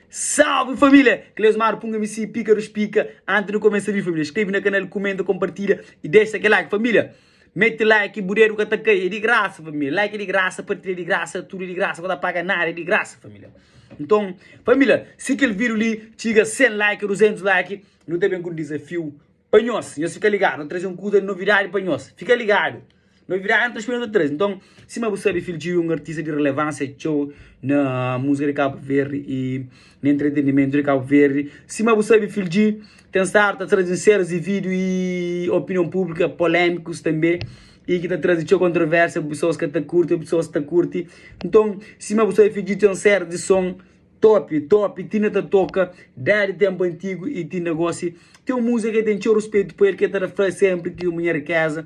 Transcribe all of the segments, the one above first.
Salve família! Cleus Maro Punga MC Pika dos Pika Antes de começa vídeo família Inscreve na canal, comenta, compartilha E deixa aquele like família Mete like bu dedo ka ta cai É de graça família Like é de graça, partilha é de graça Tudo é de graça, ka ta paga nada É de graça família Nton família, si kel vídeo li txiga 100 like, 200 like Nu ta ben ku um desafiu Pa nhos, nhos fika ligadu, nu ta traze un kuza di novidadi pa nhos. Fika ligadu! Novidadi nu ta spera nu ta traze. Nton, sima bu sabe, Phil Djiu é un artista di relevánsia txeu na múzika di Kabu Verdi i na entretenimentu di Kabu Verdi. Sima bu sabe, Phil Djiu ten stadu ta traze un série di vídiu i opinion públiku polémikus tanbê i ki ta traze txeu kontrovérsia, pesoas ka ta kurti ô pesoas ki ta kurti. Nton, sima bu sabe, Phil Djiu ten un série di son. Top top ti na ta toka dadi tempu antigu e ti na gosi ti un musa ke ten txeu ruspetu pa el ke ta ta fla senpri ki un minha rikeza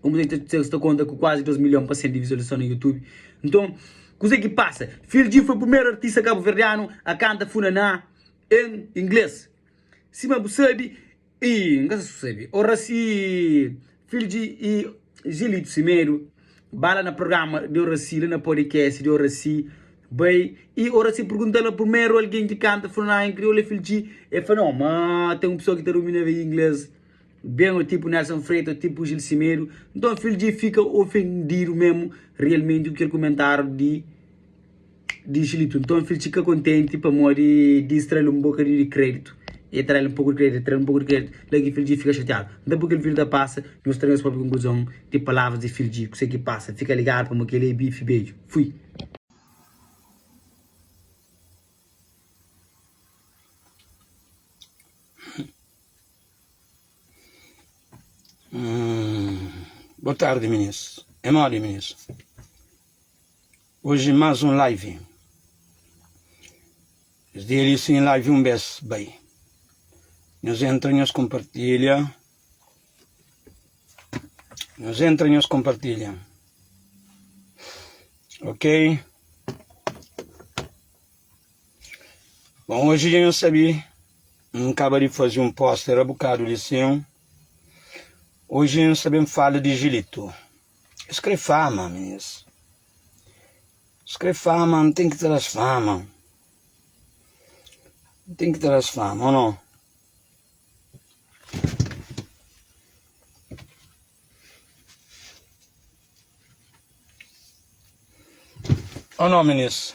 un musa ke ta sta konta ku kuazi 2 milion pasen di vizualizason na youtube nton kuze ki pasa fil G foi primeru artista kabuverdianu a kanta funaná en ingles sima bu sabi Ii, N ka sa sabe. O Racii, filhu di i Zilito Simedo, ba la na programa di o Racii, la na podcast di o Racii, bai i o Racii pergunta la purmeru algen ki kanta Funaná en kriolu é filhu di el fla no, ma ten un pesoa ki ta dominaba inglês ben o tipu Nelson Freitas o tipu Gil Simedo, nton filhu di fika ofendidu memu realmenti ku kel kumentáriu di. di xilitu nton fil txika kontenti pamodi di strali un boka di kreditu e trali un poku di kreditu e trali un poku di kreditu la ki fil dji fika xatiadu nta bu kel fil ta pasa nhos tra nhos propi konkluzon di palavras di fil dji kuse ki pasa fika ligadu pamo kel e bifi bedju fui. Boa tarde meninos, é modi meninos. Oji mas un live. Es dia li sin live un bes bai nhos entra nhos compartilha nhos entra nhos compartilha ok bom hoje dia nhos sabi um acaba de fazer um poster a bocado de sim hoje nhos sabem fala de gilito Es kre fama mes Es kre fama N ten ki tra-s fama N ten ki tra-s fama o nau O nau minis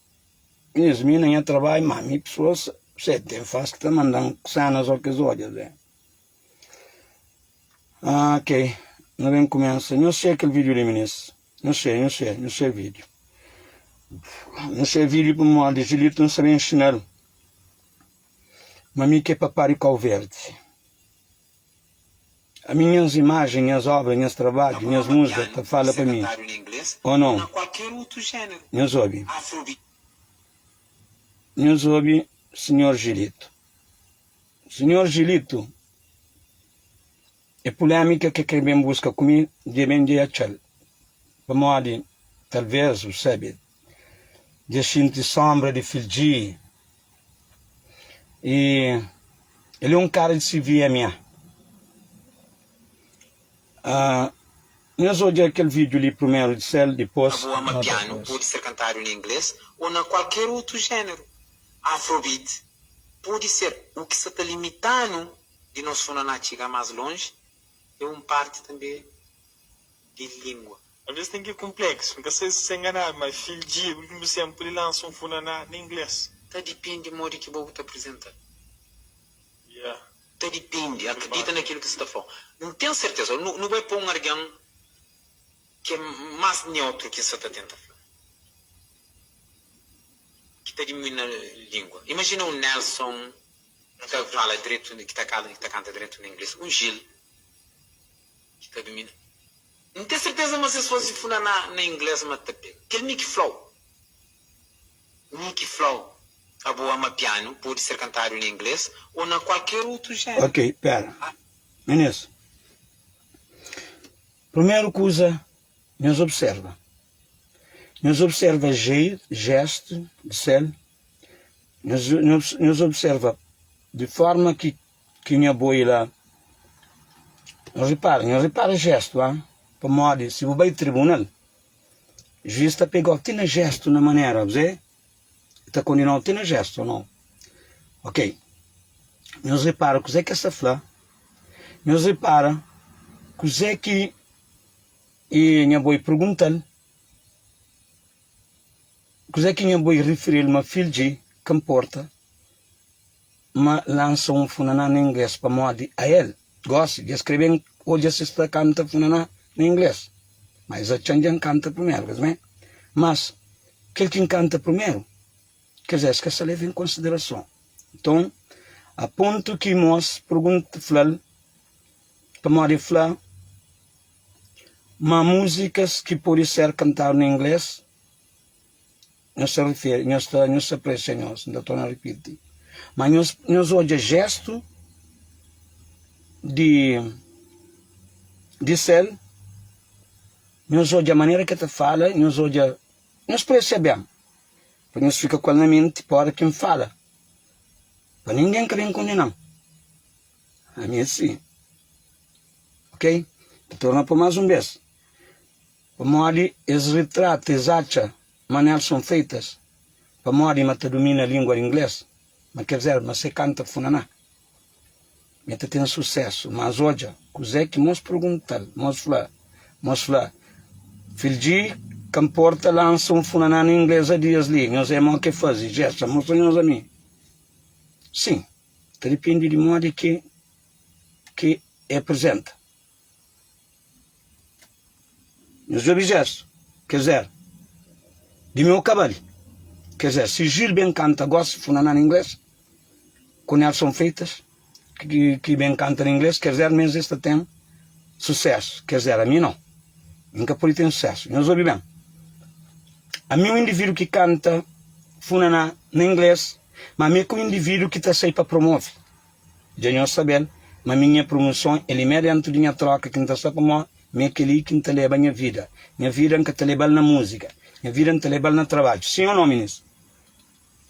Nhas mina nha trabalho má mi pessoas sete tem faz que tá mandando cena só que zódia vem ah, ok na vem começa não sei aquele vídeo de ministro não sei não sei não sei vídeo não sei vídeo por modo de julito não sabe ensinar mas mi que é papá de cal verde Ami nhas imajen, nhas obra, nhas trabadju, nhas musga ta fala pa mi, o non? Nhos obi. Nhos obi Sinhor Jilitu. Sinhor Jilitu, e pulemika ke kre ben buska ku mi, dje ben dje atxal, pamodi talves u sabe Dja xinti sónbra di fildji Y el é un kara di CVMA ah, Nhos odja kel vídiu li primeru, disel dipôs. Na bua ma pianu pode ser kantadu na inglês ô na kualker otu géneru. Afrobeat pode ser u ki sa ta limita-nu di nos funa na txiga más lonji, é un parti tanbê di lingua. Alvês ten kel konpléksu. N ka sai si sê nganadu, má é fildjia. Últimu bes N pode lansa un funaná na inglês. Ta dipende modi ki bo bu ta prizenta-l. Ya. Ta dipende. Akridita na kel ki sta fla. N ten serteza. Nu nu bai pa un argen ki é más neutru ki N sta ta tenta fla. Ki ta dimui na língua. Imajina un Nelson ki ta fala dretu, ki ta kanta dretu na inglês. Un Gil ki ta dumina. N ten serteza ma si es faze fla na na inglês ma ta ben. Kel mi ki flau. Mi ki flau abo ama pianu pode ser kantadu na inglês o na kualker otu género. Ok, pera. Menes, primeru kuza nhos observa. Nhos observa jeito, gesto di sel. Nhos nhos nhos observa di forma ki Ki nha boi la. Nhos ripara, nhos ripara jestu, ha? Pamodi si bu bai tribunal, juís ta pega-u ti na jestu, na manera, bzê? El ta kondena-u ti na jestu, o nau? Ok. Nhos ripara kuzê ki es ta fla? Nhos ripara kuzê ki e nha boi pergunta-l? Kuzê ki nha boi rifiri-l ma fil dji ka nporta? ma lansa un funaná na inglês pamodi ael gosi dja skreben o dja si sta kanta funaná na inglês ma es atxan dja nkanta primeru kes ben mas kel ki nkanta primeru kes es ka sa leva en konsiderason nton a pontu ki mos pergunta flal pamodi el fla ma muzikas ki podi ser kantadu na inglês Nhos ta riferi, nhos ta, nhos ta presa txeu, nhos, N ta torna ripiti, ma nhos, nhos odja jestu di, di sel, nhos odja manera ki el ta fala, nhos odja, nhos presa txeu ben, pa nhos fika ku el na menti, pa ora ki N fala, pa ningen ka ben kondena-m. Ami é si. Ok? N ta torna pô-u más un bes. Pamodi es ritrata es atxa ma nel son feitas pamodi ma ta dumina lingua di inglês ma kel zerba ma se canta funaná me ta ten sucesso mas odja kuzé ki mos perguntal mos fla mos fla fildji ka mporta lansa um funaná na inglês adias li nhos é mo ke fazi gesta mostra nhos ami sim ta depende di modi ke ke é prezenta. Nhos djobe Jésu, kes éra di meu kabal Kes é si Gil ben kanta gosi funaná na inglês Ku Nelson Freitas ki ben kanta na inglês Kes éra mes es ta ten susésu Kes éra mi nau mi nka pode ten susésu Nhos obi ben Ami é un individu ki kanta funaná na inglês Má mi é ka un individu ki ta sai pa promove Dja nhos sabe-l, ma mi nha prumoson é limé déntu di nha tróka ki N ta sta pamó, mi é kel-li ki N ta leba nha vida. Nha vida N ka ta leba-l na múzika, nha vida N ta leba-l na trabadju. Sin ô nô, minês?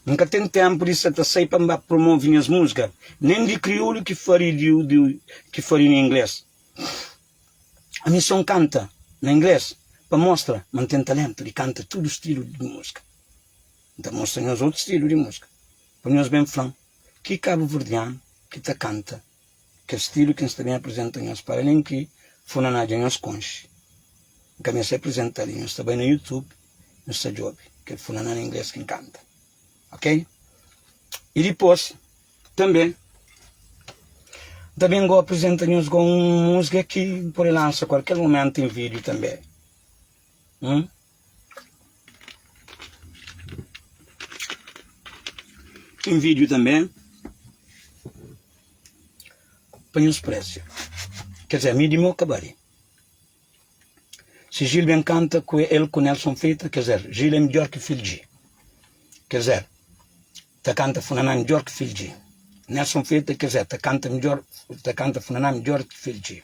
N ka ten ténpu di sa ta sai pa N ba promove nhas múzika, nen di kriolu ki fari di di ki fari na inglês. Ami sô N kanta na inglês pa mostra ma N ten taléntu di kanta tudu stilu di múzika. N ta mostra nhos otu stilu di múzika, pur nhos ben fla-m Ki kabuverdian ki ta kanta kes stilu ki N sta ben aprizenta nhos pa alén ki funa na dja nhos konxe. N ka meste aprizenta li, nhos ta bai na YouTube nhos ta djobe kel funa na na ingles ki N kanta. Ok. I dipos tanbe N ta ben go aprizenta nhos go un musga ki N pode lansa kualker momentu en video tanbe. Ten vídeo tanbê pa nhos préziu Ker dizê, mi di mô ka ba li Si Gil ben kanta ku el ku Nelson Fita Ker dizê, Gil é midjór ki Fil G Ker dizê, ta kanta Funaná midjór ki Fil G Nelson Fita, Ker dizê, ta kanta midjór, ta kanta Funaná midjór ki Fil G.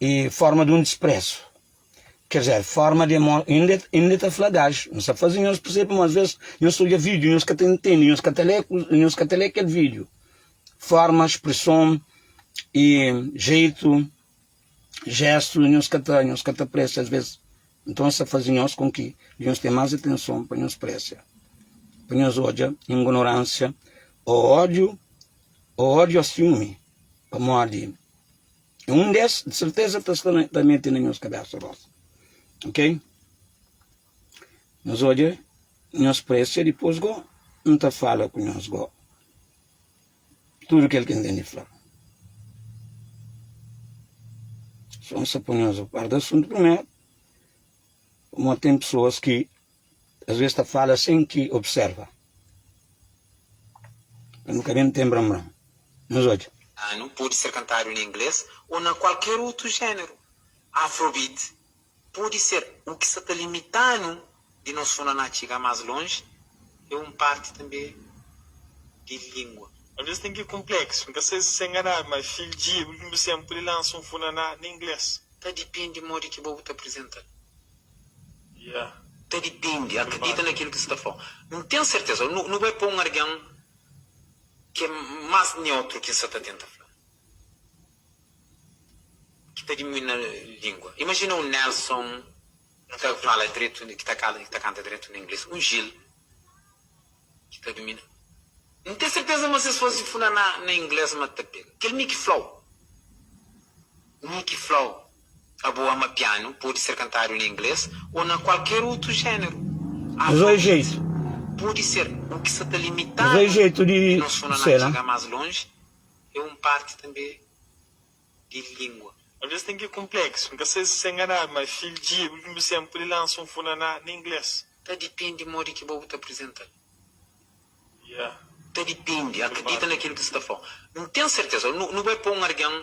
e forma di un disprezu Ker dizer forma di amor Inda inda ta fla gaju Nhos ta faze nhos persebe ma asvez Nhos ta odja vídiu Nhos ka ta intende Nhos ka ta lé Nhos ka ta lé kel vídiu Forma, spreson e jeitu Jestu Nhos ka ta Nhos ka ta presia asvez Nton es ta faze nhos kon ki di nhos ten más atenson Pa nhos presia Pa nhos odja ingonoransia Ô ódiu Ô ódiu ô siumi Pamodi. E un des, di serteza, ta sta na, ta mete na nhos kabésa gosi. Ok? Nhos odja nhos présia dipôs go, N ta fala ku nhos go tudu kel ki N ten di fla. Sô N sta pô nhos a par di asuntu primeru, pamodi ten pesoas ki. Às bês ta fala sen ki obsérva. Pa nu ka ben ten bran-bran nos odju. Anu, Pode ser kantadu na inglês ô na kualker otu géneru. Afrobeat pode ser o ki sa ta limita-nu di nos funaná txiga más lonji é un parti tanbê di lingua. Às bês ten ki konpléksu. N ka sai si sa enganadu, má Fil G, últimu sén, pode lansa un funaná na inglês. Ta dipende modi ki bo bu ta aprizenta-l. Ta dipende, akredita na kil ki sta fla. N ten serteza, nu bai pa un argen ki é mas neutru ki N sa ta tenta fla, ki ta dimui na lingua. Imajina un Nelson ki ta fala dretu, ki ta kala, ki ta kanta dretu na ingles, un Gil ki ta dumina. N ten serteza ma si es fase fla na ingles ma ta pega. Kel mi ki flau, mi ki flau. Abo ama pianu, pode ser kantadu na inglês ô na kualker otu géneru. Afarit pode ser o ki sa ta limita-nu di nos funa na txiga más lonji, é un parti tanbe di lingua. Alvês ten ki kunpleksu, N ka sai si sa enganadu, ma Fil Djia é últimu sen pode lansa un funa na inglês. Ta dipende modi ki bo bu ta aprizenta-l. Ta dipende, akredita na kel ki bu sta fla. N ten serteza. Nu bai pa un algen.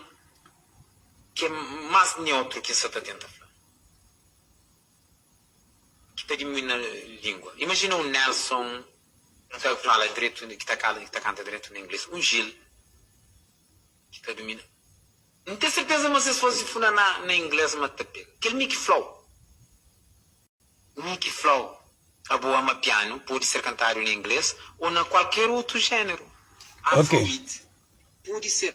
Ke mas neutru ki N sa ta tenta fla? Ki ta dimuina lingua? Imajina un Nelson ki ta fala dretu, ki ta kala, ki ta kanta dretu na ingles, un Gil ki ta dumina. N ten serteza ma ses fose funa na ingles ma ta pega. Kel mi ki flau. Mi ki fla-u, abo ama pianu, pode ser kantadu na inglês ô na kualker otu géneru. Afrobeat pode ser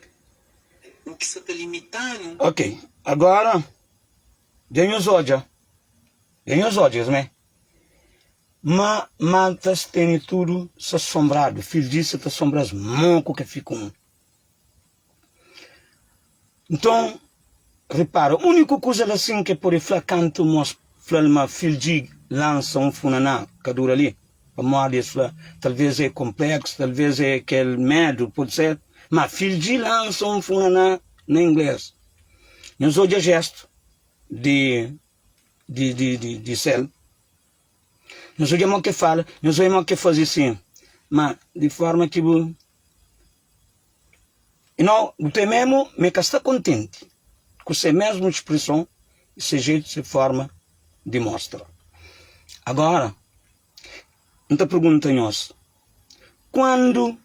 u ki sa ta limita-nu. Ok, agora dja nhos odja, dja nhos odja es mé. Ma maltas tene tudo sa sombrado, fil disse ta sombra-s mo ku ke fica um. Nton, ripara, úniku kuza el asin ki el pode fla kantu ma es fla-l ma fil di lansa un funa na kadura li, pamodi es fla, Talvês é konpléksu, talvês é kel medu, pode ser. Má fil di lansa un funa na, na inglês. Nhos odja jéstu di, di, di, di, di sel. Nhos odja mo ke fala, nhos oi mo ke faze sin. Ma di forma ki bu. I no, bu ta memo ma e ka sta kontenti ku se mesmu spreson i se jetu, se forma di mostra. Agora, N ta pergunta nhos, Kandu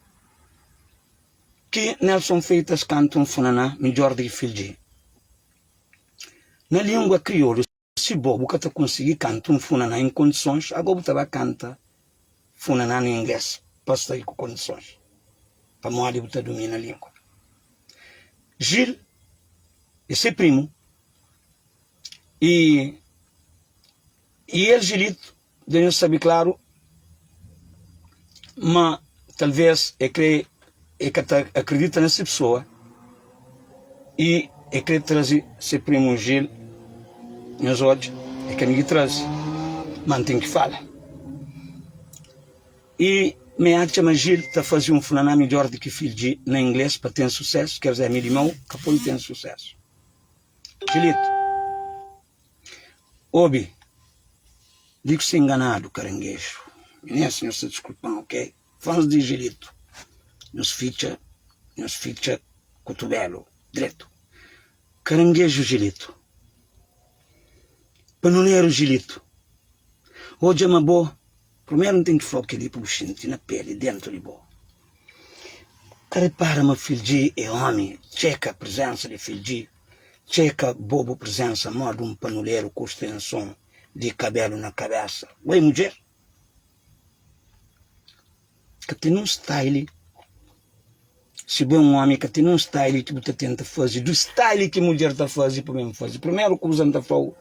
ki Nelson Feitas kanta un funaná midjor di ki Fildjé? Na lingua kriolu. Si bo bu ka ta konsigi kanta un funaná en kondisons, ago bu ta ba kanta funaná na inglês pa sta i ku kondisons, pamodi bu ta dumina lingua. Gil e se primu i i el Gilito. Dja nhos sabe klaru ma talvês el krê, el ka ta akredita na se pesoa i el krê traze se primu Jil. Nhos odja, el ka mindi traze, má N ten ki fala. I ma N atxa ma Jil ta faze un fla-na midjór di ki Fildji na inglês pa ten susésu, ker-dizê, mi di mau ka poi ten susésu. Jilito. Obi, di ku se enganadu karangeju. Inês, Nhos ta diskulpan, ok? Fans di Anjelito, Nhos fitxa, nhos fitxa kutubelu dretu. Karangeju Anjelito, Panoneru Anjelito, odja ma bo Primeru N ten ki fla-u kel-li pa bu xinti na peli, dentu di bo. Ka ripara ma Fildji é ómi? Txeka prizénsa di Fildji, txeka bo bu prizénsa modi un panuleru ku stenson di kabélu na kabésa. Bai mudjer ka ten un staili, si bu é un ómi ka ten un staili ki bu ta tenta faze di staili ki mudjer ta faze pa ben faze. Primeru kuza N ta fla-u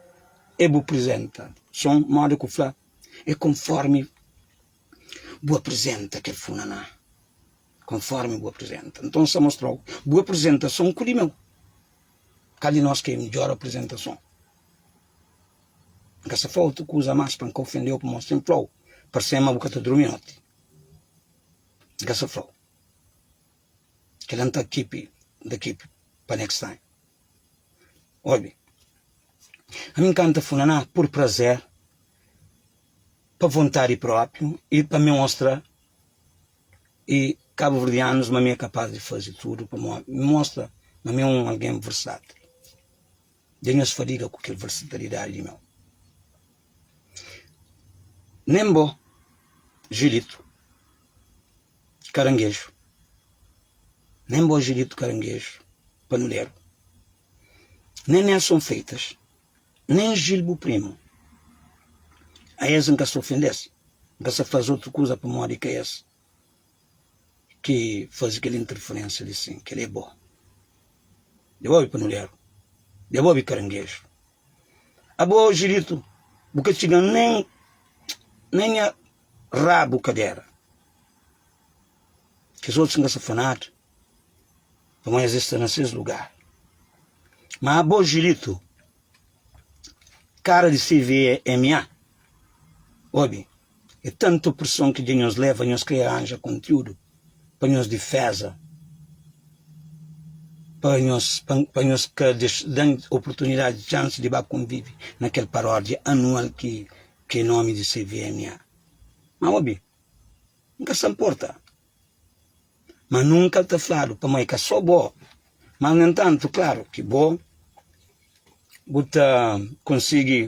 é bu prizenta son modi ku fla. É konformi bu aprizenta kel funaná Konformi bu aprizenta Nton N sta mostra-u bu aprizentason ku di meu Kal di nos ki é midjór aprizentason? N ka sta fla-u otu kuza más pa N ka ofende-u Pamodi N fla-u parse-m ma bu ka ta durmi noti N ka sta fla-u. Kel la N ta keep da keep pa next time Obi ami N kanta funaná pur prazer pa vontadi propriu i pa mi mostra i kabuverdianus ma mi e kapaz di fazi tudu pamodi mi mostra ma mi e un algen versatil dja nhos fadiga ku kel versatilidadi di meu nen bo Julito. ki karangeju, nen bo Julito Karangeju Panuleru, nen Nelson Freitas, nen Gil bu primu, a es N ka sa ofende-s, N ka sa faze utru kuza pamodi ka es ki faze kel interferensia li sin, kel-li é bo. Dja bu obi Panuleru? Dja bu obi Karangeju? Abo oji ditu bu ka txiga nen na nha rabu kadera. Kes otus n ka sa fla nada, pamodi es dja sta na ses lugar. Ma abo oji ditu kara di CVMA, obi. É tantu preson ki dja nhos leva, nhos krê aranja kontiúdu pa nhos diféza, pa nhos pa nhos ka da-m oportunidadi, txansi di ba konvive na kel paródia anual ki krê nómi di CVMA. Má obi, N ka sta nporta. Má nunka el ta fladu, pamodi é ka sô bo. Mas, nu entantu, klaru ki bo bu ta konsigi.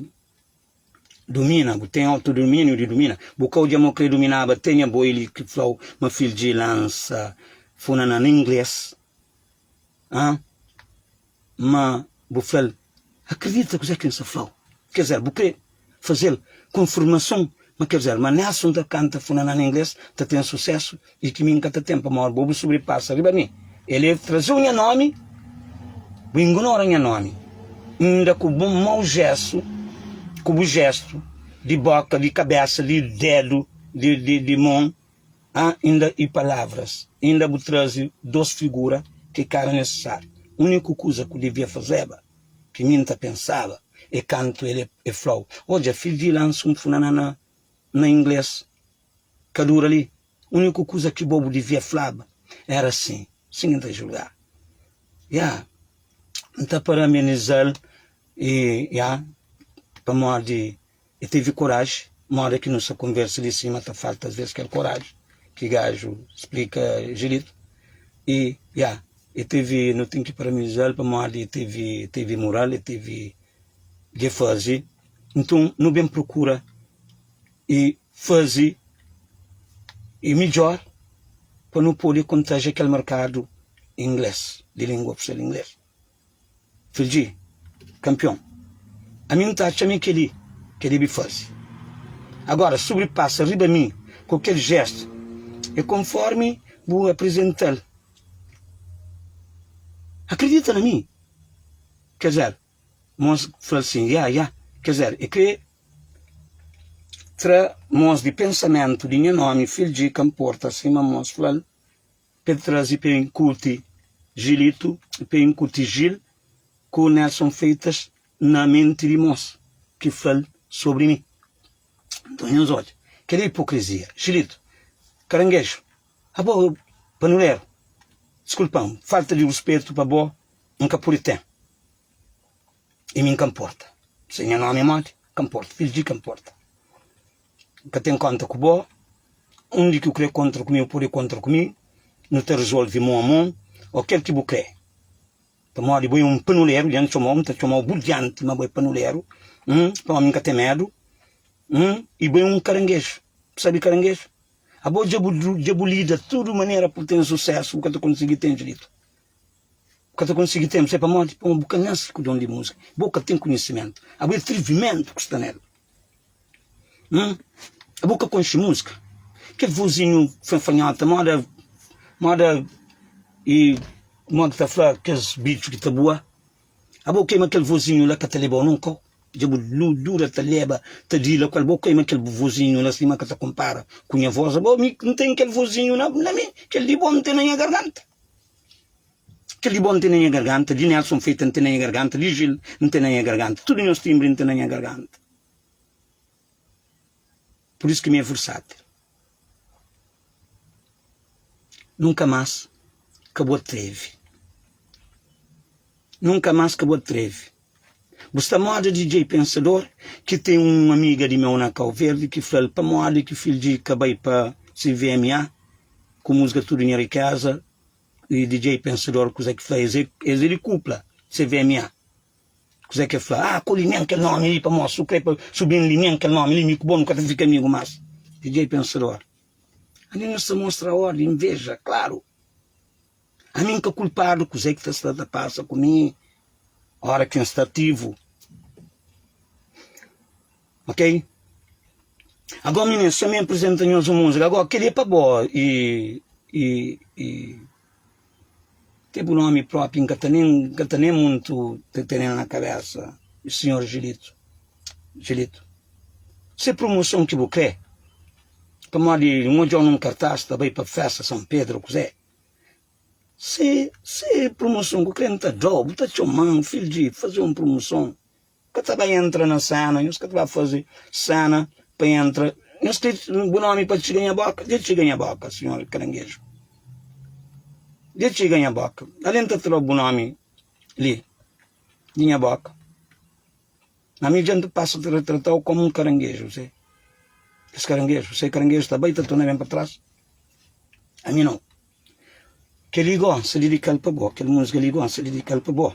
Dumina, bu ten autodominiu di dumina, bu ka odja ma krê duminaba tê nha boi li ki flau ma fil dji lansa funa na na ingles ha ma bu fla-l akredita kuzé ki N sa flau ker dzer bu krê fazel konfirmason ma ker dzer ma Nelson ta kanta funa na na ingles ta ten susésu I ki mi N ka ta ten pamór bo, bu sobripasa riba mi. El é traze-u nha nómi, bu ingunora nha nómi, inda ku bu mau jésu, ku bu jéstu di bóka, di kabésa, di dédu, di mon, ha inda i palavras, inda bu traze dôs figura ki ka éra nisisáriu. Úniku kuza ku devia fazeba, ki mi N ta pensaba, é kantu el fla-u, Odja, fidji, lansa un funana na inglês. ka dura li. Úniku kuza ki bo bu divia flaba éra sin, sin ki N ta julga. Ya, N ta para amenizal i, ya, pamodi el tevi koraji. Moda ki nu sta konversa li sima ta falta asvês kel koraji ki gaju splika jiritu. I, ya, el tevi, nu ten ki parabenizal pamodi el tevi, el tevi moral, el tevi ke fazi. Nton, nu ben prokura i faze i midjór pa nu pode kontaja kel merkadu inglês, di língua oficial inglês. Fidji, Kanpion, ami N ta atxa ma é kel-li ki el debe faze. Agóra, si bu pasa riba mi ku kel jéstu, é konfórmi bu aprizenta-l. Akridita na mi, Kezel. Mons fla-l sin, Ya, ya, kezé, e krê tra mons di pensamentu di nha nomi, fil dji, ka nporta, sima mons fla-l p'e trazi p'e inkuti Jilitu i p'e inkuti Jil ku Nelson Feitas na menti di mons, ki fla-l sobri mi. Nton nhos odja, kel-li é ipokrizia. Jilitu, Karangeju, A bo pa nu ler. Skulpa-m, falta di ruspetu pa bo N ka pudi ten i mi N ka nporta Si nha nomi é modi, N ka nporta Fidju di ki N nporta N ka ten konta ku bo Undi ki bu krê kontra ku mi bu pode kontra ku mi Nu ta rizolvi mon a mon Ô kel ki bu krê Pamodi bo é un panuleru dja N txoma-u N ta txoma-u bu dianti ma bo é panuleru N pa omi N ka ten medu N i bo é un karangeju Bu sabe karangeju? Abo dja bu dja bu lida tudu manera pa bu ten susesu bu ka ta konsigi ten diritu bu ka ta konsigi ten se pamodi pamodi bu ka nasi ku don di musika bo ka ten kunhisimentu abo e trivimentu ku sta nel hum abo ka konxi musika kel vozinhu fanhota moda moda e moda ta fla kes bitxu ki ta bua Abo koi ma kel vozinhu la ka ta lebao nunka o dja bu dura ta leba ta di la ku el bo koi ma kel bu vozinhu la sima ka ta konpara ku nha voz abo mi n ten kel vozinhu na na mi kel di bo n ten na nha garganta kel di bo n ten na nha garganta di nelson feita n ten na nha garganta di jil n ten na nha garganta tudu nhos timbri n ten na nha garganta Pur isu ki mi é fursat. Nunka más ka bu atrevi. Nunka más ka bu atrevi. Bu sta moda di djei pensador ki ten un amiga di meu na Kau Verdi ki fla-l pamodi ki fidju di ka bai pa CVMA ku musga Tudu Nha Rikeza y djei pensador kuza ki fla es é di kupla CVMA. Kuzé ki el fla? Ah, koli men kel nomi li pamós, su krê pa su ben li men kel nomi li, mi ku bo nu ka ta fika amigu más. Didjei Pensador, Ami nu sta mostra órdi, inveja, klaru! Ami N ka kulpadu kuzé ki ta sta ta pasa ku mi óra ki N sta ativu, ok? Agó, minins, txomé N prizenta nhos un múzika, agó, kel-li é pa bo, i, i, i. Ke bu nomi propi n ka ta nen n ka ta nen muntu ta tenel na kabesa Sr. Julito Julito Se promoson ki bu kre pamodi n odjou nun kartas ta bai pa festa San Pedro kuze Se se promoson ku kre n ta dou bu ta txoman filho di faze un promoson Ka ta ba entra na sana, nhos ka ta ba faze sana pa entra. Nhos kre bu nomi pa txiga nha boka? Dja txiga nha boka, Sinhor Karangeju. Dja txiga nha boka. Ali N ta tra bu nomi li di nha boka. Ma ami dja N ta pasa ta trata-u komu un karangeju, se. Es karangeju, se karangeju ta ba i ta torna ben pa tras. Ami nau. Kel-li gó N sta dedika-l pa bo, kel musga li gó N sta dedika-l pa bo.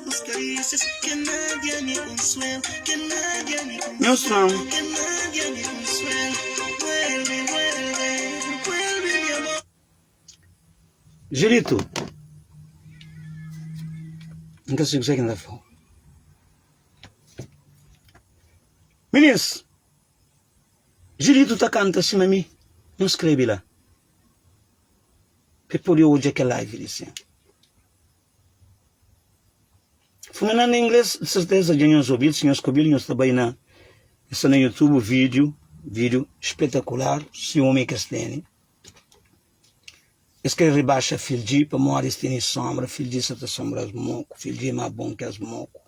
Nhos fla-m Julito N ka sibi ke ki N ta fla-u Minis Julito ta kanta sima mi Nhos skrebe la pa e pode odja kel live li sen Fumina na inglês, de certeza dja nhos ouvir, se nhos ka ouvir nhos ta bai na nhos sta na YouTube vídeo, vídeo espetacular se ome ki es teni es kre rebaxa fildji pamodi es teni sombra fildji sa ta sombra es moku fildji é ma bon ki es moku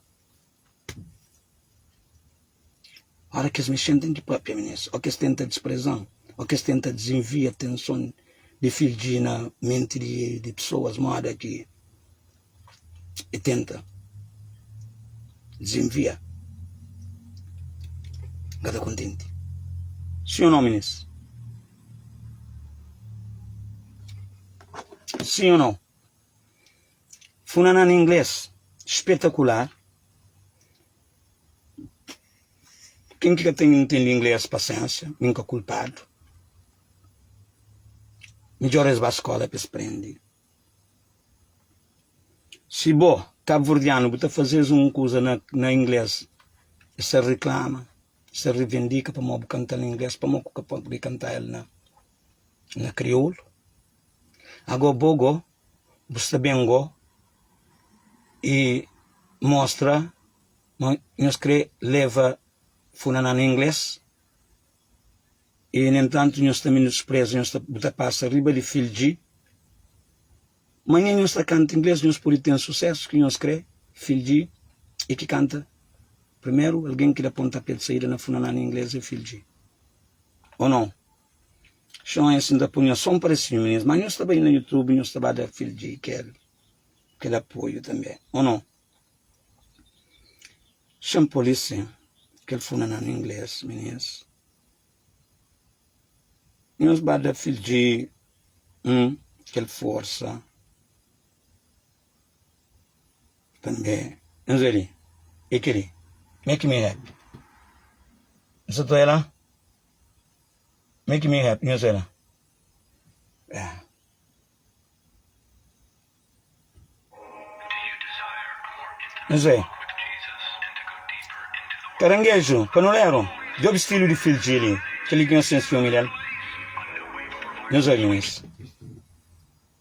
Óra ki es mexen ten ki pâpia mi nes Ó ki es tenta dispreza-m Ó ki es tenta dizenvia atenson di fidji na menti di pesoas Móda ki e tenta dizenvia N ka ta kontenti Sin ô nô mi nes Sin ô nô. Funanan na inglês, Spetacular! Ken ki ka ta intende inglês, pasensia, mi nka kulpadu. Midjor es ba skola pa es prende. Si bo, kabverdianu, bu ta fazes un kuza na na inglês, es ta reklama, es ta revendika pamó bu kanta-l na inglês, pamó ku ka pode kanta-l na na kriolu? Ago bo go, bu sta ben gó i mostra ma nhos krê leva Funaná na inglês i, nu entantu, nhos ta minuspreza, nhos ta, bu ta pasa riba di Fildji. Manhã nhos ta kanta inglês, nhos pode ten susésu ki nhos krê, Fildji é ki kanta. Primeru algen ki da pontapé di saída na Funaná na inglês é Fildji, ô nau? Xon es nta punha som pa es filme nes ma nhos ta bai na youtube nhos ta ba da filg kel kel apoio tanbe o no xon police kel funa na ingles minês nhos ba da filg um kel forsa tanbe nhos bai li e kili make me happy nsa ta bai la Make me happy, nhos wê la. Nhos wê. Karangeju, panuleru, djobe stilu di filji li, kel li ki nhos ten siumi del. Nhos wê, Luís.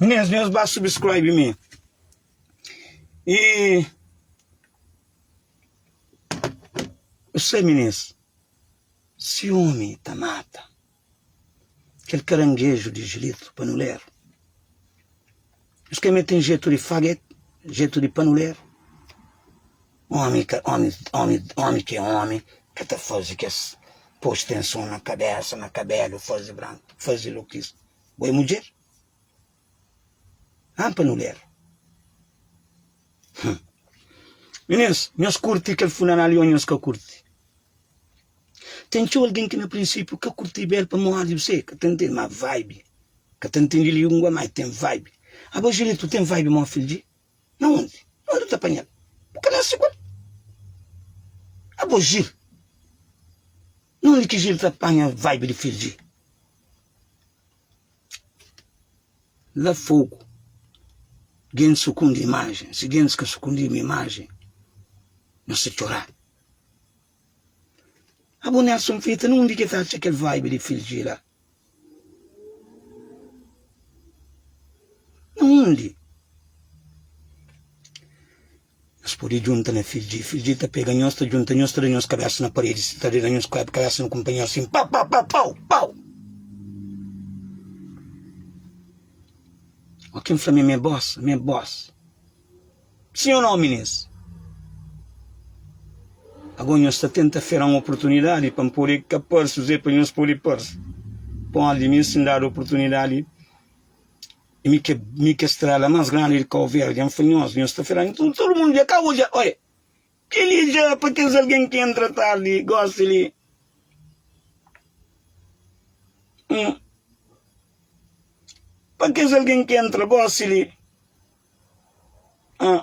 Nhas nhas ba subscribe mi e Você meninas ciúme tá mata Kel karangeju di jilitu panuleru Es ka mê ten jetu di faget Jetu di panuleru Omi ka omi omi omi ki é omi ka ta fazi kes Pos tenson na kabesa na kabelu fazi branku fazi lukis Bo é mudjer? Haa panuleru. Hum. Minês, nhos kurti kel funeral i ô nhos ka kurti? Ten txeu algen ki na prinsípiu ka kurti bel pamodi bu sê ka ta ntende, má vibe, ka ta ntende língua, má el ten vibe. Abo Júlia, tu ten vibe mó fil dje? Na undi? Na undi bu ta panha-l? Bu ka nase ku el? Abo Jil, na undi ki Jil ta panha vibe di fil dje? la fogu gen sukundi imajen si gen ka sukundi ma imajen no sta txora abo Nelson fita na undi ke ta atxa kel vibe di filgi la na undi Nhos pode djunta na fildjê fildjê ta pega nhos ta djunta nhos ta da nhos kabésa na paredi si ta da nhos kabésa na kunpanheru asin pau pau pau pau pau ó ken fla mi ma é bos ma é bos sin ó no minês ago nhos ta tenta fera un oportunidadi pa pode ka parse zé pa nhos pode parse pode mi sin dadu oportunidadi Mi ke mi ke strela mas grandi di kau verdi en funhos nhos ta fila nton tudu mundu dja ka odja oia keli dja pa kes algen ki entra tardi gosi li hum pa kes algen ki entra gosi li ah.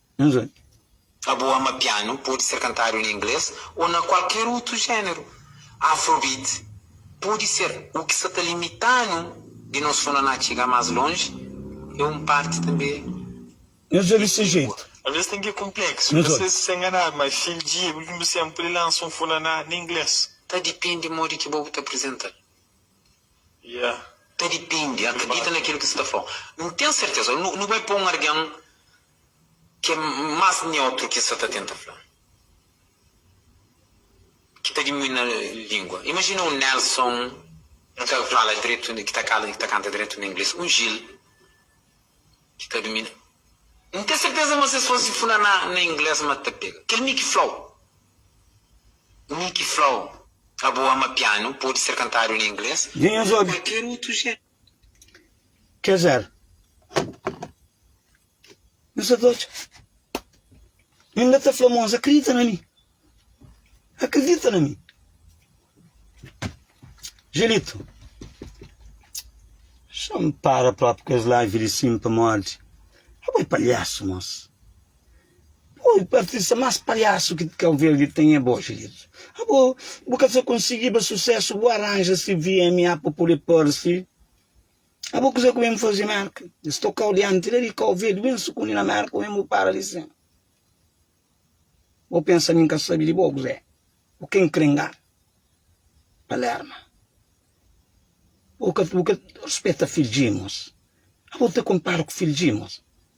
N. A bu ama pianu, pode ser kantadu na inglês ô na kualker otu géneru. Afrobeat pode ser u ki sa ta limita-nu di nos sona na txiga más lonji é un parti tanbe di txigu. Alvês ten ki konpleksu, na ses ki sa nganadu, ma Phil G é últimu sénpri li lansa un fona na na inglês. Ta dipende modi ki bo bu ta aprizenta-l. Ta dipende, akredita na kel ki sa ta fla-u. N ten serteza, nu bai pa un argen Ke mas neutru ki es sa ta tenta fla? Ki ta dimui na lingua. Imajina un Nelson ki ta fala dretu, ki ta kala, ki ta kanta dretu na ingles, un Gil ki ka dumina. N ten serteza ma si es fase fla na ingles ma ta pega. Kel mi ki flau. Mi ki flau. Abo ama pianu, podi ser kantadu na ingles o na kualker otu. Quer dizer, mi sa ta otxa, i N inda ta fla mos, Akridita na mi, akridita na mi. Julito, xa N para propi ku es live di sim pamodi, abo é palhasu mos. Oi artista mas palhaço que Cabo Verde tem é bó xerido. Abo, bu ka sa konsigiba sucesso bu aranja si VMA pa pode parse. Abo kuza ku ben faze Merka? Es tokau dianti la di Cabo Verde, ben sukundi na Merka oben bu para li sen. Bo pensa mi nka sabi di bo o kuzé? Bo ka enkrenga Palerma. Bo ka bo ka respeta Phil Djimos. Abo ta kompara ku Phil Djimos.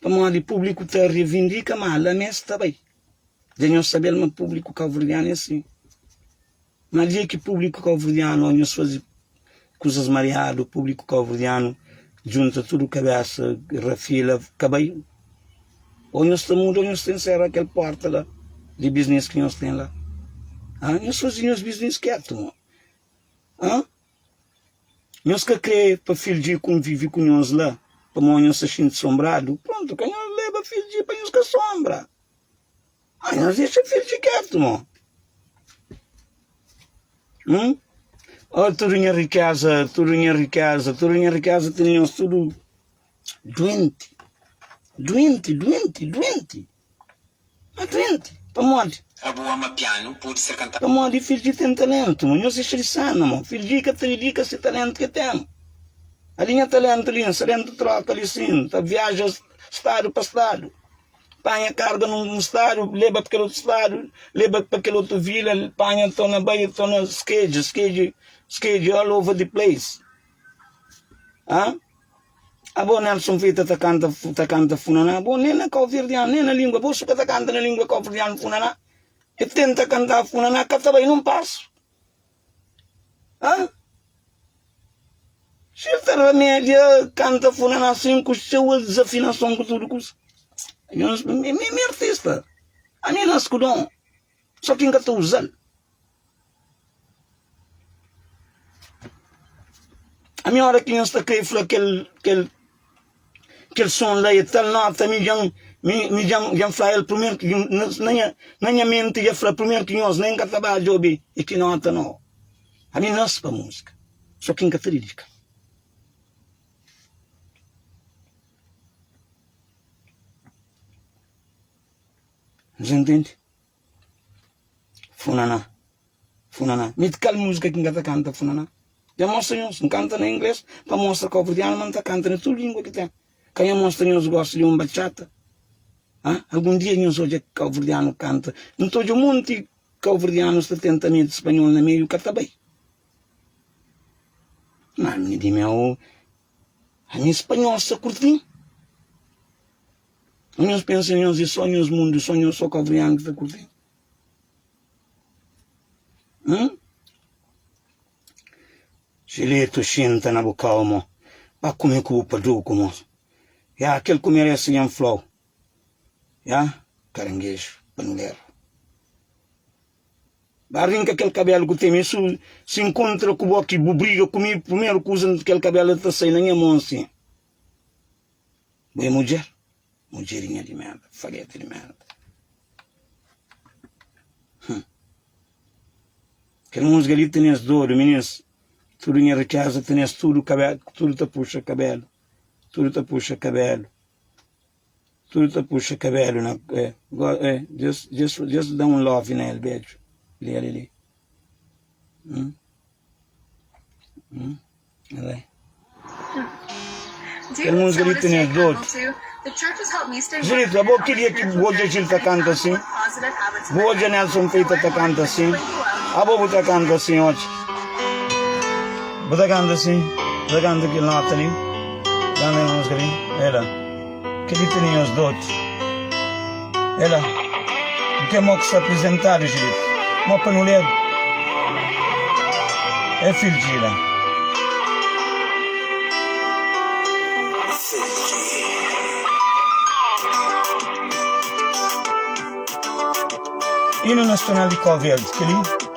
pamodi públiku ta revindika ma la mé es ta bai. Dja nhos sabe-l ma públiku kauverdianu é asin. Má dja ki públiku kauverdianu, ô nhos faze kuzas mariadu, públiku kauverdianu djunta tudu kabésa, rafila, ka bai. Ô nhos ta muda ô nhos ta ensera kel pórta la di biznis ki nhos ten la. Ãh, nhos faze nhos biznis kétu, mon. Ãh. Nhos ka krê pa Fildji konvive ku nhos la, pamodi nhos ta xinti sonbradu? Prontu, ka nhos leba Fildji pa nhos ka sonbra. Má nhos dexa Fildji kétu, mô. Hum? Ó, tudu nha rikéza, tudu nha rikéza, tudu nha rikéza tene nhos tudu duenti, duenti, duenti, duenti. Na frenti, pamodi. Ka bu ama pianu, pode ser kantadu. Pamodi fidju di ten talentu. Ma nhos inxa di sanu, amor. Fidju di ka ta dedika se talentu ke ten. Ali nha talentu li, nsalentu troka li sin. Ta viaja stadu pa stadu, panha karga nun stadu, leba pa kel otu stadu, leba pa kel otu vila, panha to na bai, to na skedje, skedje, skedje all over the place, ah. Abo Nelson Fita ta kanta ta kanta funaná bo nem na cabo verdeano nem na lingua bo su ka ta kanta na lingua cabo verdeano funaná e tenta kanta funaná ka ta bai num passo ah si el ta remedia kanta funaná sem ku seu el desafinason ku tudo kusa mi mi artista ami nasku dom Só ki N ka ta uza-l. Ami, óra ki nhos ta krê fla kel, kel, kel son la é tal nóta, ami dja-m, mi, mi dja-m, dja-m fla el primeru ki djun, na, na nha, na nha menti dja fla primeru ki nhos nen ka ta ba djobe e ki nóta nau. Ami nase pa múzika, só ki N ka ta dedika-l. Nhos intende? Funaná. Funaná. Mi kal música ki nga ta kanta funaná? Nha mostra nhos. N kanta na inglês pa mostra cabo-verdiano ma N ta kanta na tudu língua ki ten. Ka nha mostra nhos gosta di un bachata? Hã? Algun dia nhos odja cabo-verdiano kanta? N ta odja monti cabo-verdianos ta tenta mete spanhol na meiu, ka ta bai. Má ami di mi, aô, ami spanhol sta kurti-m. Nhos pensa nhos é só nhos mundu só nhos só kavrian ki ta kurtin hum jiletu xinta na bu kau mo ba kume ku bu paduku mo ya kel ku merese nha n flau ya karangeju panderu ba rinka kel kabelu ku teme su si n kontra ku bo ki bu briga ku mi primeru kuza kel kabelu ta sai na nha mon si. Bu é mudjer? Mudjerinha di merda, fageta di merda. Hum. Kel musga li tene-s dodu, minins. Tudu nha rikeza tene-s tudu kabelu, tudu ta puxa kabelu, tudu ta puxa kabelu, tudu ta puxa kabelu na eh, go, eh, just, just, just dá um love nele, beijo, li ali, li. Hum? Hum? Kel música li tene dodu. Jilito, abo ki dia ki bu odja Jilito ta kanta asin? Bu odja Nelson Peita ta kanta asin? Abo bu ta kanta asin odja? Bu ta kanta asin? Bu ta kanta kel nota li? Kanta kel música li? Ela. Kel ki tene nhos dóti é la. N ten mó ki sta aprizentadu diritu. Mó pa nu ledu é fil di la. Inu nastonal di Kó Verdi, kel-li.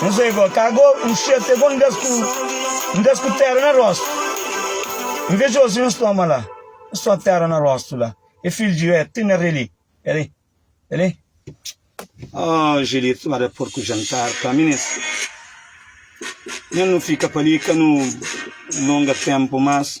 N sai gó, ka gó, N xeta é gó N das ku, N das ku tera na rostu N veja osi nhos toma la N só tera na rostu la É filhu di ré, ti na ré li É li, é li Aah Julito ba da porku jantar pa mi nes Nha nu fika pa li ka nu longa tenpu mas.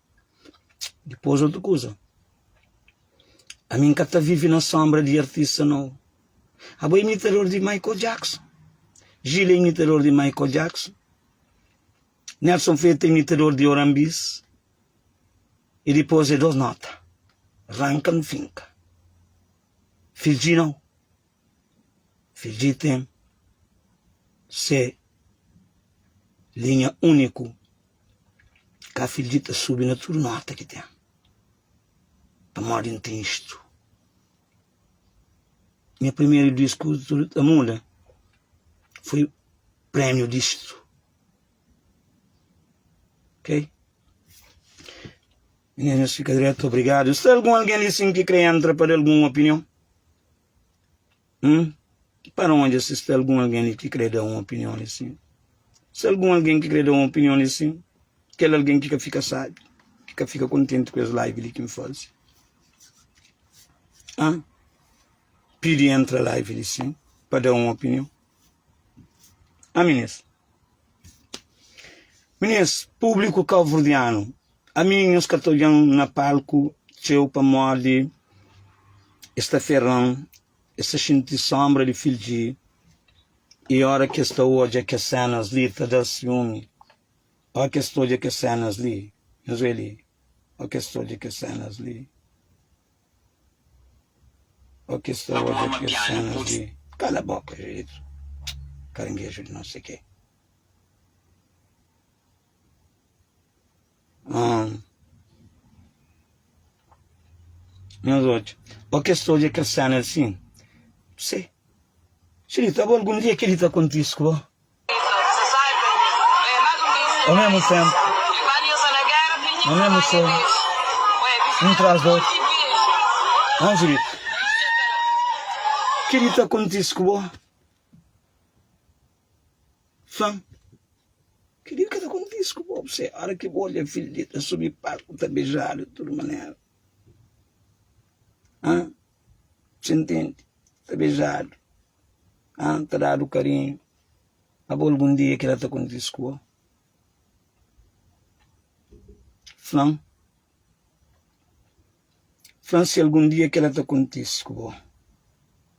Dipôs otu kuza, ami N ka ta vive na sónbra di artista nau. Abo é imitador di Michael Jackson, Gil é imitador di Michael Jackson, Nelson Feta é imitador di Oran Bis, y dipôs é dôs nóta, ranka-m finka. Fidji nau. Fidjiten se linha úniku, ka fidji ta subi na tudu nóta ki ten, pamodi N ten istu. Nha primeru disku tudu ta muda foi prémiu distu. Ok. Meninas fika dretu obrigadu. Sta algun algen li sin ki kre entra pa da algun opinion? Hum? Para onde se sta algun algen li ki kre da un opinion li sin? Se algun algen ki kre da un opinion li sin, kel algen ki ka fika sabi, ki ka fika kontenti ku es live li ki N faze. Hã? Pidi entra live li sin pa da un opinion. Hã, meninas? Meninas, publiku kau-verdianu, Ami nhos ka ta odjan na palku txeu pamodi es ta ferran, es ta xinti sónbra di fidji i óra ki es ta odja kes sénas li ta da-s siumi, ó ki es ta odja kes sénas li, nhos oiê li, ó ki es ta odja kes sénas li, ó ki es ta odja kes sénas li. Kala bóka Júlito, karangeju di nôs é ke. Ah. Nhos odja. Ó kes ta odja kes séna li sin. Pse. Xilita, bo algun dia kel-li ta kontise ku bo? Au mesmo tempo, no mesmo sol, um tras do outro. Não, Julito? O que lhe está acontecendo com você? Fã, Kel li ka ta kontise ku bo. Bse, óra ki bu odja fidju li ta subi palku, ta bejadu di tudu manera. Hã? Bse ntende? Ta bejadu. Hã? Ta dadu karinhu. Abo algun dia kel la ta kontise ku bo? Fã, Fã, Si algun dia kel la ta kontise ku bo.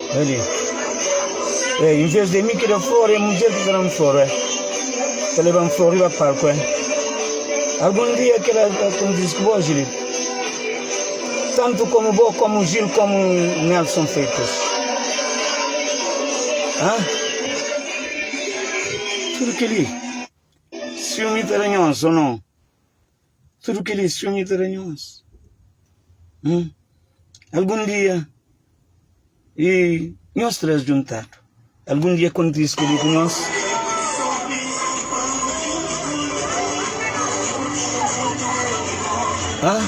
Ele, é, em vez de mim que dá flor, é mulher que dá flor, é. Tá levando flor riba palco, é. Algum dia que ela, como diz que vou, Gil, tanto como vou, como Gil, como Nelson Freitas. Hã? Tudo que ele, ciúme tá ranhoso ou não? tudu kelis sonhu ta da nhos hum algun dia e nhos tres djuntadu algun dia kontise kel li ku nhos ah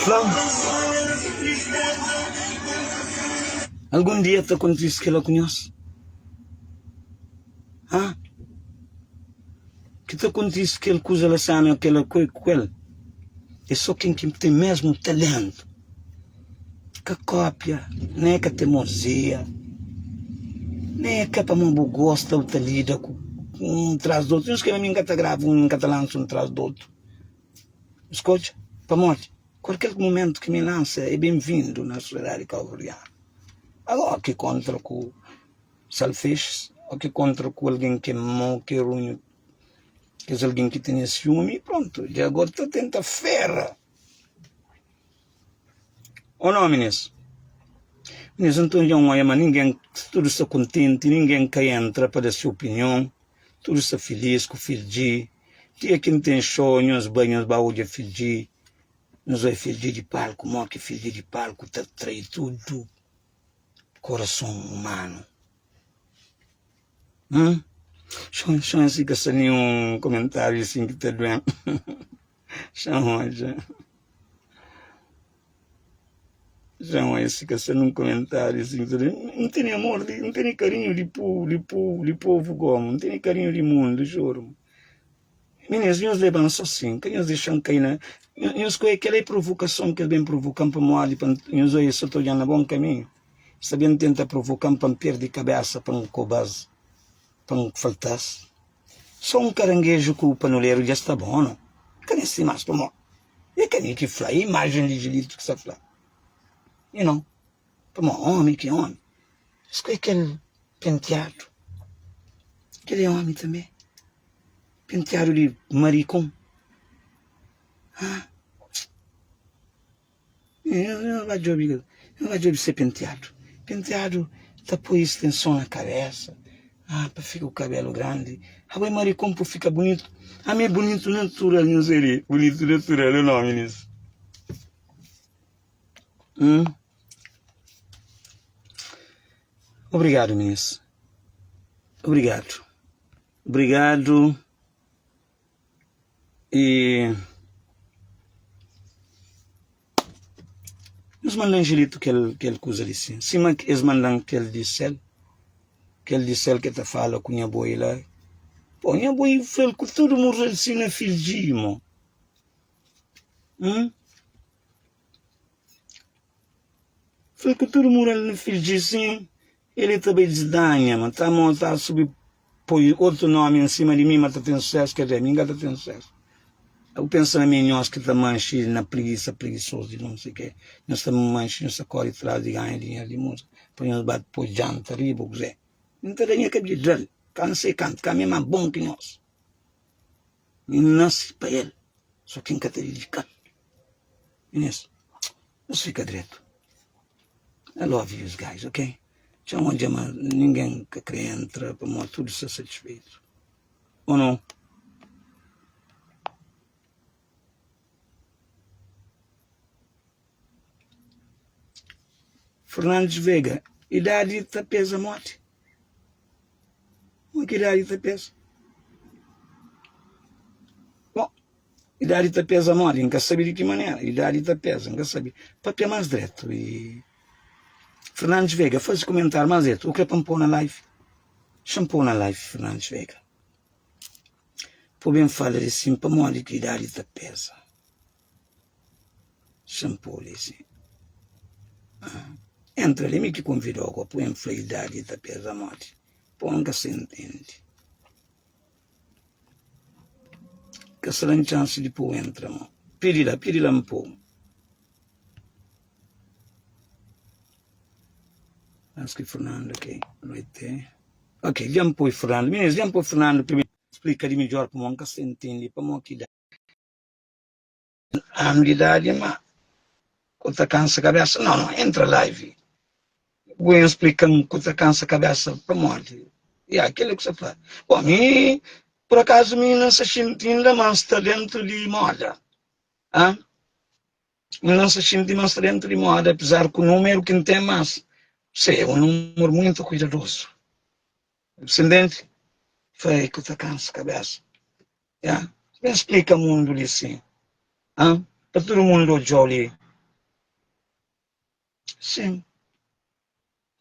fla-m Algun dia ta kontise kela ku nhos? Ha? Ki ta kontise kel kuza la sana na kela ku el? É só ken ki ten mesmu talentu, ka kópia, nen ka temozia, nen é ka pamó bu gosta bu ta lida ku un tras di otu. Nhos krê ma mi n ka ta grava un, n ka ta lansa un tras di otu? N ska odja. Pamodi? Kualker mumentu ki milansa é benvindu na sosiedadi kauverdianu. Ago o ki kontra ku salfexis, o ki kontra ku algen ki é mau, ki é runhu, kes algen ki tene siumi, prontu, dja ago ta tenta fera o nomi nes. Nes, nton, dja N oia ma ningen, tudu sta kontenti, ningen ka entra pa da se opinion. Tudu sta filís ku fil dji Dia ki N ten xô Nhos bai, nhos ba odja fil dji Nhos oi fil dji di palku Mó ki fil dji di palku ta trai tudu korason umanu Hum Xon xon si ka sta ninhun komentáriu isin ki ta duen. Xan odja Xan odja si ka sen un komentáriu si N tene amor, N tene karinhu di povu, di povu, di povu goma N tene karinhu di mundu, juru Minês, nhos leba-m sô sin Ka nhos dexa-m kai na Nhos kuê kel la é provokason ki es ben provoka-m pa N modi pa N Nhos oi es sô ta odja-m na bon kaminhu Es ta ben tenta provoka-m pa N perde kabésa pa N koba-s pa N falta-s Sô un karangeju ku panuleru dja sta bon no Ka ne sti más pamó e ka ne ki fla E imajen di Julito ki sa fla E no pamó omi ki omi Es ku e kel penteadu Kel e omi tanbe Penteadu di marikon Ha-ah Nhos va djobe nhos va djobe se penteadu penteadu ta poi estenson na kabesa ah pa fika ku kabelu grandi abo e marikon po fika bunitu ami e bunitu natural nhos e li bunitu natural e nomi disu hum obrigadu minis obrigadu obrigadu. E nhos manda anjelitu kel kel kuza di sin, sima ki es mandan kel di sél, kel di sél ki ta fala ku nha boi la, pô nha boi fla-l ku tudu mon fla-l si nha fidju djibi mo umm fla-l ku tudu mon fla-l nha fidju djibi si. Ele ta bai disdanha ma ta mo ta subi poi otu nomi en sima di mi ma ta ten susesu ke dizer mi inga ta ten susesu abu pensa na mi nhos ki ta manxi na prigisa prigisozu di nunsi ke nhos ta manxi nhos ta kori tras di ganha dinheru di musa pa nhos ba poi janta riba o kuzê mi ta da nha kabida dal ka n sei kantu ka mi ma bon ki nhos mi nasi pa el so ke n ka ta dedikal mi nes. Nos fika dretu. I love yous guys ok txeu mon dja ma ningen ka kre entra pamod tudu sta satisfeitu o no. Fernandes Vega idadi ta peza moti mo ki idadi ta peza. Idadi ta peza modi? N ka sabe di ki manera idadi ta peza, N ka sabe. Pâpia más dretu y Fernandes Vega faze kumentáriu más dretu o ke pa N pô na live? Xa N pô na live Fernandes Vega pô ben fala li sin pamodi ki idadi ta peza xa N pô li sin entra li mi ki konvidô ku apuia N fla idadi ta peza modi pô N ka sa intende Ka sran txansi di pô-u entra ma Pidi la, pidi la N pô-u Antis ki Fernando ke Loite Ok, dja N poi Fernando Minins, dja N poi Fernando Primeru, splika di midjór pamodi N ka sta intende pamodi ki da. Anu di idadi ma ku ta kansa kabesa no no entra live bu en splikan ku ta kansa kabesa pamodi ya kila ku sa fla bo mi por akazu mi nan sa xinti inda ma nsta dentu di moda ah mi nan sa xinti ma nsta dentu di moda apesar ku numeru ki ntem mas se un numeru muintu kuidadozu bu sindenti fai ku ta kansa kabesa Ya, ki ben splika mundu li si? Ha? Pa tudu mundu odjau li? Sim.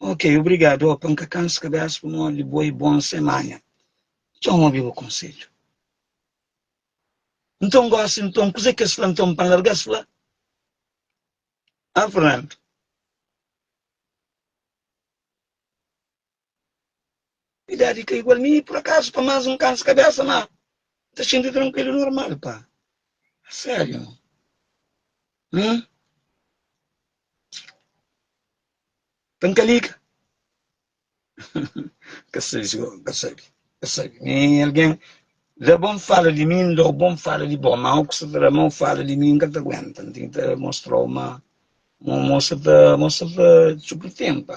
Ok, obrigadu. Oh, pa N ka kansa kabesa pamodi di bo, i bon semana. Txau, N obi bu konsedju. Nton, gosi, nton, kuzê ki es fla nton pa N larga? Es fla, Ha, Fernando? Idadi ka igual mi pur akazu pa mas un kansa kabesa ma n ta xinti trankuilu e normal pa a serio ah pa n ka liga ka sabi si bo ka sabi ka sabi mi algen da bo n fala di mi n dau bo n fala di bo ma oku sa ta da ma o fala di mi n ka ta guenta n ten ta mostrau ma mo mo sa ta mo sa ta txuku ten pa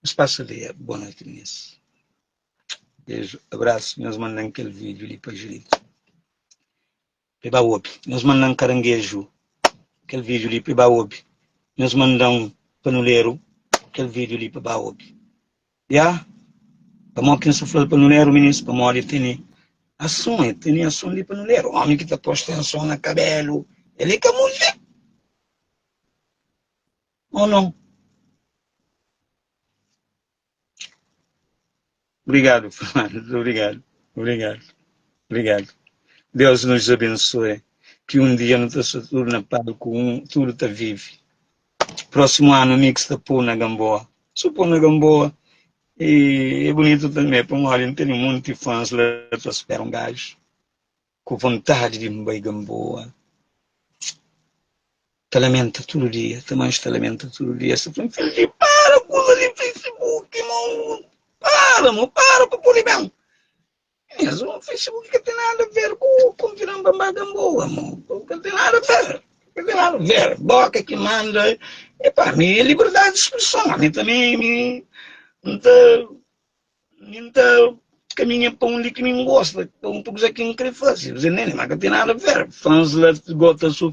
Nos pasa li é bom noite minis beju abraço nhos mandan kel vídeo li pa Julito pe ba obi nhos mandan caranguejo kel vídeo li pe ba obi nhos mandan panuleru kel vídeo li pe ba obi. Ya, pamodi ki N sta fla-l pa nu lera o ministru? Pamodi el tene ason, el tene ason li pa nu lera. Omi ki ta posta ason na kabelu, el é ka mulher? Ô nau? Obrigadu, Fernandes. Obrigadu, obrigadu, obrigadu. Deus nos abensoe, ki un dia nu ta sta tudu na palku un, tudu ta vive. Próximo ano mix ta pô na gamboa Só pô na gamboa E é bonito tanbê Pa un ólha n'tene monte fãs la ta spera un gajo Ku vontade di n'bai gamboa Ta lamenta tudo dia Ta manj ta lamenta tudo dia Sa fla-m Fil di para kuza di Facebook Mon Para mon para pa pô-l ben Mas o Facebook ka tem nada a ver ku ku viran bambada boa, mo. Ka tem nada a ver. Ka tem nada a ver. Boka ki manda. Epa, mi é liberdade de expressão. Mi também mi n ta mi n ta caminha pa onde que mi n gosta, pa pa kuza ki n kre fase. Zé Nene, mas ka tem nada a ver. Fãs la gota su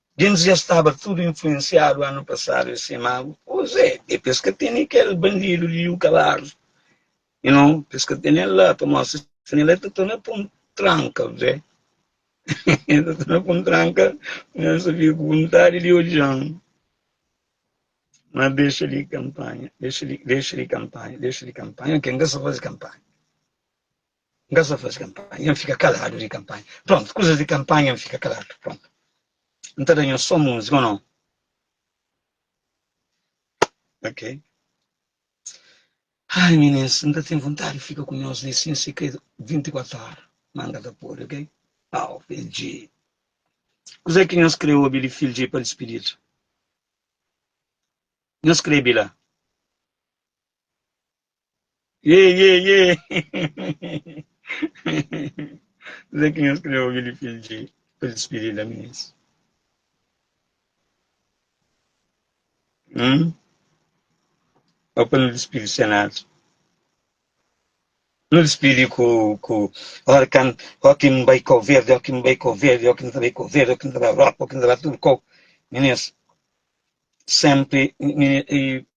Gentis dja staba tudu influensiadu anu pasadu e se magu kuzê e pes ka tene kel bandidu liu kaladu you know pes ka tene el la pa mostra sina el ta torna pun tranka kuzê el ta torna pun tranka nhos ta fika ku vontadi di odjan ma dexa li kanpanha dexa li dexa li kanpanha dexa li kanpanha ok nka sa faze kanpanha N ka sta faze kanpanha, N fika kaladu di kanpanha. Prontu, kuzas di kanpanha N fika kaladu. Prontu. N ta da nhos so múzika ô nau? Ok. Ai, minins, N ta ten vontadi di fika ku nhos li sin sikredu 24 óra, má N ka ta pode, ok? Au, Fil Dje. Kuzê ki nhos krê obi li, Fil Dje, pa dispididu? Nhos krê bai la? Iê, iê, iê! Kuzê ki nhos krê obi di Fidji pa dispidida minis? Hum? Ô pa nu dispidi Senadu? Nu dispidi ku, ku óra kan, ó ki N bai Kau-Verdi, ó ki N bai Kau-Verdi, ó ki N ta bai Kau-Verdi, ó ki N ta bai Europa, ó ki N ta bai tudu kau, minis, senpri, mini, i.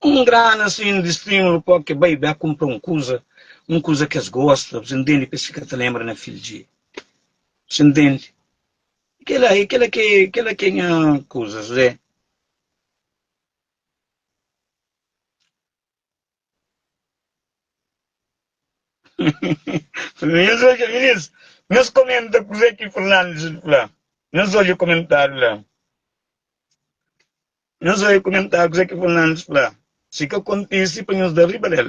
Ku un grana asin di stimulu pa oki bai b'é kunpra un kuza, un kuza ki es gosta, bu ta ntende pa es fika ta lenbra na fil dje. Bu ta ntende? I kela, i kela ki, kela ki é nha kuza, Zuzé. Nhos odja, minis, nhos komenta kuzê ki Fernandes fla. Nhos odja komentáriu la. Nhos vai kumentá kuzé ki Fernandes fla si ka kontisi pa nhos da riba del.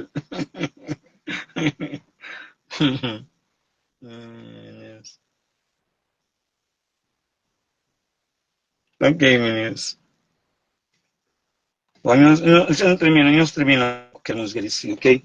Ok meninos. Bom, nós, nós, nós termina, nós termina com a música de si, ok?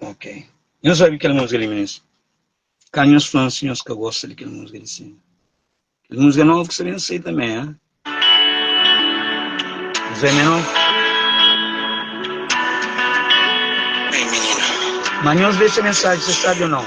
Ok. Nhos obi kel música li, minins? Ka nhos fla-m si nhos ka gosta di kel música li sima. Kel música novu ki sa ben sai tanbê, ha? Nhos obi menos? Ei, minina. Ma nhos dexa mensaji, sa sabi o nau.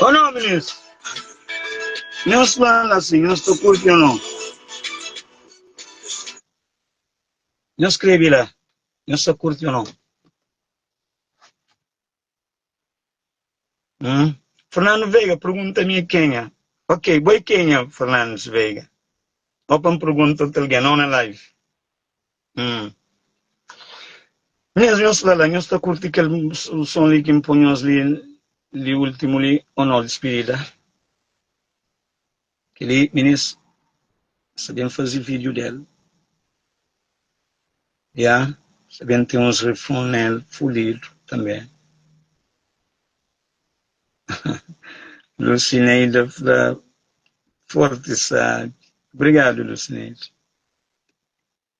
Ô nau minis, nhos fla-l asin, nhos ta kurti ô nau? Nhos skrebe la, nhos ta kurti ô nau? Hum? Fernando Veiga pergunta mi é kenha. Ok, bo é kenha, Fernandes Veiga? Ó pa N pergunta otu algen, nau na live. Hum. Nhos, nhos fla la, nhos ta kurti kel son li ki N pô nhos li, li últimu li ô nau? Dispidida. Kel-li minis sa ben fazi vídiu del. Ya, sa ben ten uns refrun nel fudidu tanbê. Lusineida fla forti sabi. Obrigadu, Lusineida.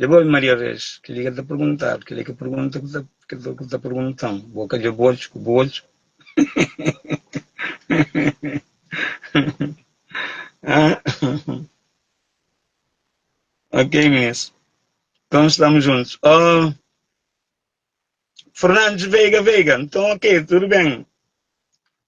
Leba-m Maria Reis, kel-li ki el ta pergunta-l, kel-li ki pergunta ki el ta, ki el ta pergunta-m, bo ka dja-bu odju ku bu odju? Ok, minis. Nton stamus djuntus. Oh, Fernandes Veiga, Veiga, nton ok, tudu ben.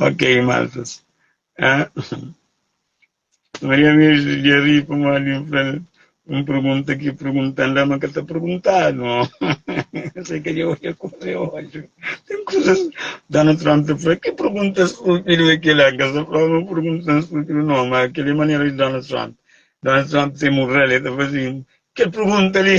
Ok, maltas. Ah, Maria Virgem de ri pamodi un fel un pergunta ki perguntanda ma ka ta perguntadu. Sei ka dje olha kuza é ódio. Tem kuzas Donald Trump ta fala, ki pergunta stúpidu é kela? Ka sa fla ma pergunta stúpidu não, ma kela é manera di Donald Trump. Donald Trump tem un rela, el ta fala assim, kel pergunta ali.